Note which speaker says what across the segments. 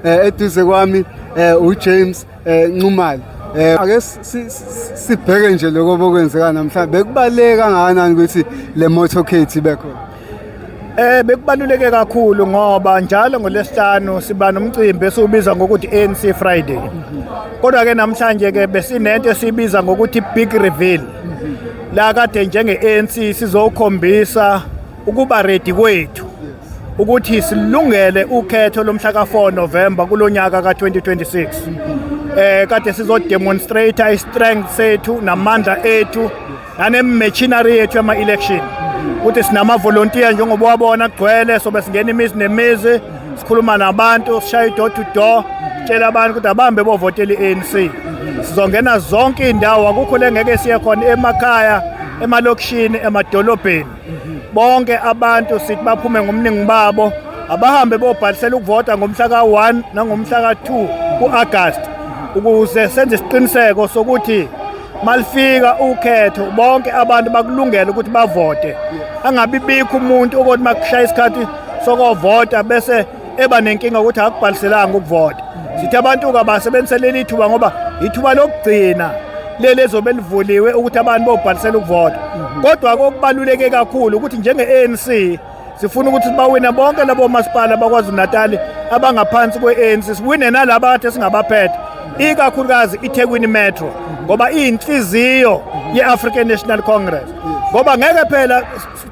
Speaker 1: eh, eduze kwami eh, uJames eh, Nxumalo eh ake sibheke nje lokho bokwenzeka namhlanje bekubaleka kangakanani ukuthi le motorcade ibe khona Eh bekubaluleke
Speaker 2: kakhulu ngoba njalo ngolesihlanu siba nomcimbi esiwubiza ngokuthi ANC Friday. Kodwa ke namhlanje ke besinento esibiza ngokuthi Big Reveal. La kade njenge ANC sizokhombisa ukuba ready kwethu ukuthi silungele ukhetho lomhla ka-4 November kulonyaka ka-2026 eh kade sizodemonstrate i-strength sethu namandla ethu nane-machinery yethu yama-election ukuthi sinamavolontiya njengoba wabona kugcwele sobe singena imizi nemizi sikhuluma nabantu sishaya i-door to door sitshela abantu ukuthi abambe bovotela i-anc sizongena zonke iy'ndawo akukho le ngeke siye khona emakhaya emalokishini emadolobheni bonke abantu sithi baphume ngomningi babo abahambe bobhalisela ukuvota ngomhla ka-1 nangomhla ka-2 ku-agasti ukuze senze isiqiniseko sokuthi malifika ukhetho bonke abantu bakulungela ukuthi bavote angabibikho umuntu okothi makushaya isikhathi sokovota bese eba nenkinga ukuthi akubhaliselanga ukuvota sithi abantu kabasebenzise leli thuba ngoba ithuba lokugcina leli ezobe livuliwe ukuthi abantu bobhalisela ukuvota kodwa kokubaluleke kakhulu ukuthi njenge-anc sifuna ukuthi bawine bonke labo masipala bakwazulu-natali abangaphansi kwe-anc siwine nalaba kade singabaphethe ikakhulukazi ithekwini metro ngoba iyinhliziyo ye-african national congress ngoba ngeke phela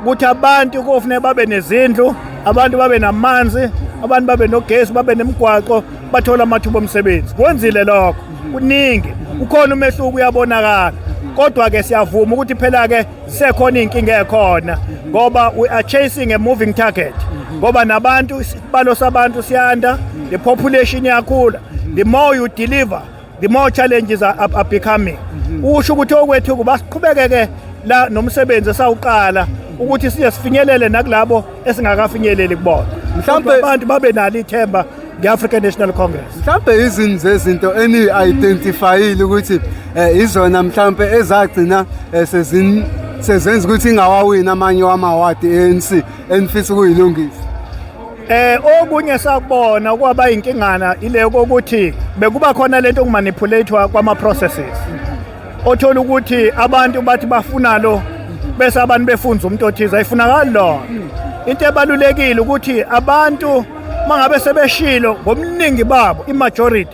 Speaker 2: ukuthi abantu kofuneka babe nezindlu abantu babe namanzi abantu babe nogesi babe nemigwaqo bathole amathuba omsebenzi kwenzile lokho kuningi ukhona umehluko uyabonakala kodwa-ke siyavuma ukuthi phela-ke sekhona iy'nkinga ekhona ngoba we are chasing a moving target ngoba nabantu isibalo sabantu siyanda the population iyakhula the more you deliver the more challenges are, are, are becoming mhm. usho ukuthi okwethu kuba siqhubekeke la nomsebenzi esawuqala ukuthi siye sifinyelele nakulabo esingakafinyeleli kubona mhlawumbe abantu babe nalo ithemba nge-african national congress mhlawumbe izini
Speaker 1: zezinto eniyi-identifayile ukuthi um izona mhlawumbe ezagcina eh, sezini sezenza ukuthi ingawawini amanye wamawadi e-anc enifisa ukuyilungisa Eh
Speaker 2: okunye sakubona kwaba inkingana ile ukuthi bekuba khona lento okumanipulate kwama processes. Othola ukuthi abantu bathi bafuna lo bese abantu befunza umuntu othize ayifunakali lo. Into ebalulekile ukuthi abantu mangabe sebeshilo ngomningi babo imajority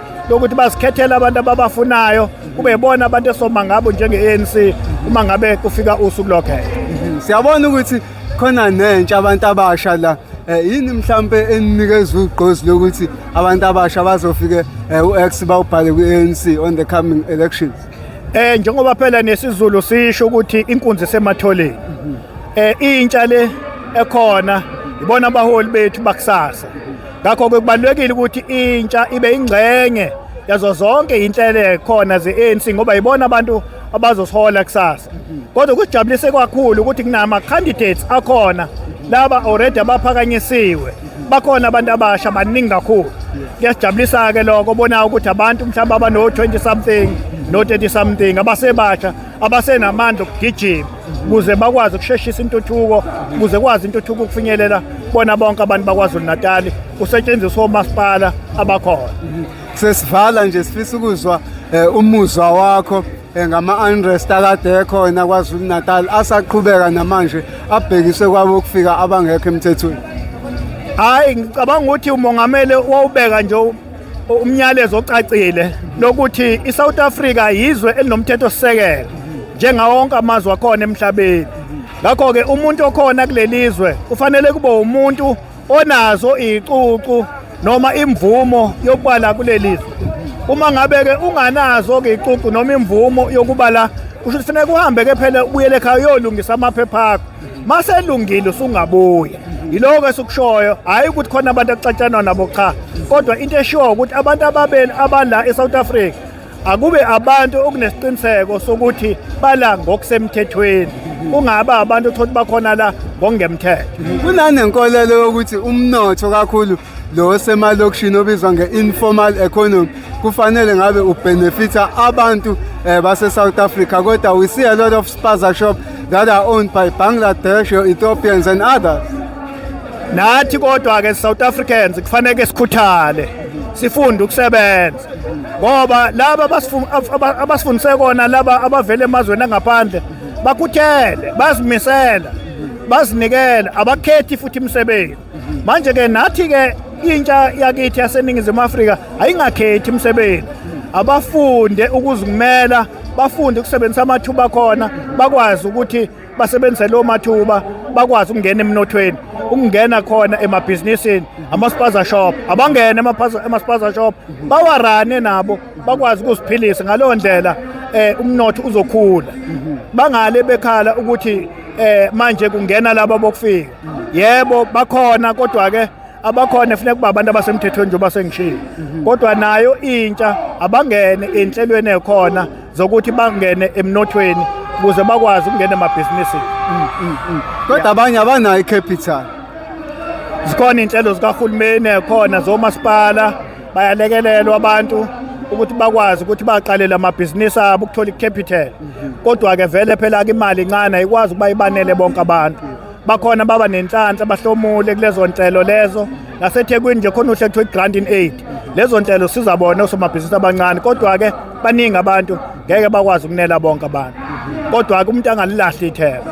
Speaker 2: lokuthi basikhethele abantu ababafunayo kube bona abantu esoma ngabo njenge-anc uma ngabe kufika usuku lokhetho mhm. siyabona ukuthi
Speaker 1: khona nentsha abantu abasha la Eh, yini mhlampe eninikeza ugqozi lokuthi abantu abasha bazofike eh, u-x bawubhale kwi-anc on the coming elections eh njengoba
Speaker 2: phela nesizulu sisho ukuthi inkunzi sematholeni eh intsha le ekhona ibona abaholi bethu bakusasa ngakho-ke kubalulekile ukuthi intsha ibe ingxenye yazo zonke yinhlele khona ze-anc ngoba yibona abantu abazosola kusasa kodwa kusijabulise kakhulu ukuthi kunama-candidates akhona laba already abaphakanyisiwe bakhona abantu abasha baningi kakhulu kuyasijabulisa-ke lokho bona ukuthi abantu mhlawumbe abano-20 something no-30 something abasebasha abasenamandla okugijima kuze bakwazi ukusheshisa intuthuko kuze kwazi intuthuko ukufinyelela bona bonke abantu bakwazulu natali kusetshenziswa omasipala abakhona sesivala
Speaker 1: nje sifisa ukuzwa eh, umuzwa wakho eh, ngama-unrest akade ekhona kwazulu natal asaqhubeka namanje abhekiswe kwabo ukufika abangekho emthethweni
Speaker 2: hhayi ngicabanga ukuthi umongameli
Speaker 1: wawubeka
Speaker 2: nje umnyalezo ocacile lokuthi iSouth Africa yizwe elinomthetho sisekelo njengawo wonke amazwe akhona emhlabeni ngakho ke umuntu okhona kulelizwe kufanele kube umuntu onazo icucu noma imvumo yokubala kulelizwe uma ngabe ke unganazo ke icucu noma imvumo yokubala kusho kufanele kuhambe ke phela ubuyele ekhaya uyolungisa amaphepha akho maselungile usungabuya yiloko esikushoyo hayi ukuthi khona abantu akucatshanwa nabo cha kodwa into eshiwo ukuthi abantu ababeni abala eSouth Africa akube abantu okunesiqiniseko sokuthi bala ngokusemthethweni kungaba abantu othothi bakhona la ngokungemthetho kunanenkolelo
Speaker 1: yokuthi umnotho kakhulu lo osemalokishini obizwa nge-informal economy kufanele ngabe ubenefitha abantu um eh, base-south africa kodwa we see a lot of spaza shop that are owned by bangladesh or ethiopians and others nathi
Speaker 2: kodwa-ke south africans kufaneke sikhuthale sifunde ukusebenza ngoba laba abasifundise kona laba abavela emazweni angaphandle bakhuthele bazimisela bazinikele abakhethi futhi imisebenzi manje ke nathi ke intsha yakithi yaseningizimu Afrika ayingakhethi imisebenzi abafunde ukuzikumela bafunde ukusebenzisa amathuba khona bakwazi ukuthi basebenzise lo mathuba bakwazi ukungena emnothweni ukungena khona emabhizinisini amaspaza shop abangene emaspaza shop bawarane nabo bakwazi ukuziphilisa ngaleyo ndlela eh umnotho uzokhula bangale bekhala ukuthi eh manje kungena laba bokufika yebo bakhona kodwa ke abakhona efuneka kuba abantu abasemthethweni njengoba sengishilo kodwa nayo intsha abangene enhlelweni ekhona zokuthi bangene emnothweni ukuze bakwazi ukungena emabhizinisini mm, mm, mm.
Speaker 1: kodwa abanye abanayo icapital
Speaker 2: zikhona iy'nhlelo zikahulumeni khona zomasipala bayalekelelwa abantu ukuthi bakwazi ukuthi baqalele amabhizinisi abo ukuthola icapital mhm. kodwa-ke vele phela ke imali incane ayikwazi ukuba ibanele bonke abantu bakhona baba nenhlanhla bahlomule kulezo nhlelo lezo nasethekwini nje khona uhle kuthiwa i-grant in aid lezo nhlelo siza bona osomabhizinisi abancane kodwa-ke baningi abantu ngeke bakwazi ukunela bonke abantu mhm. kodwa-ke umuntu angalilahli ithemba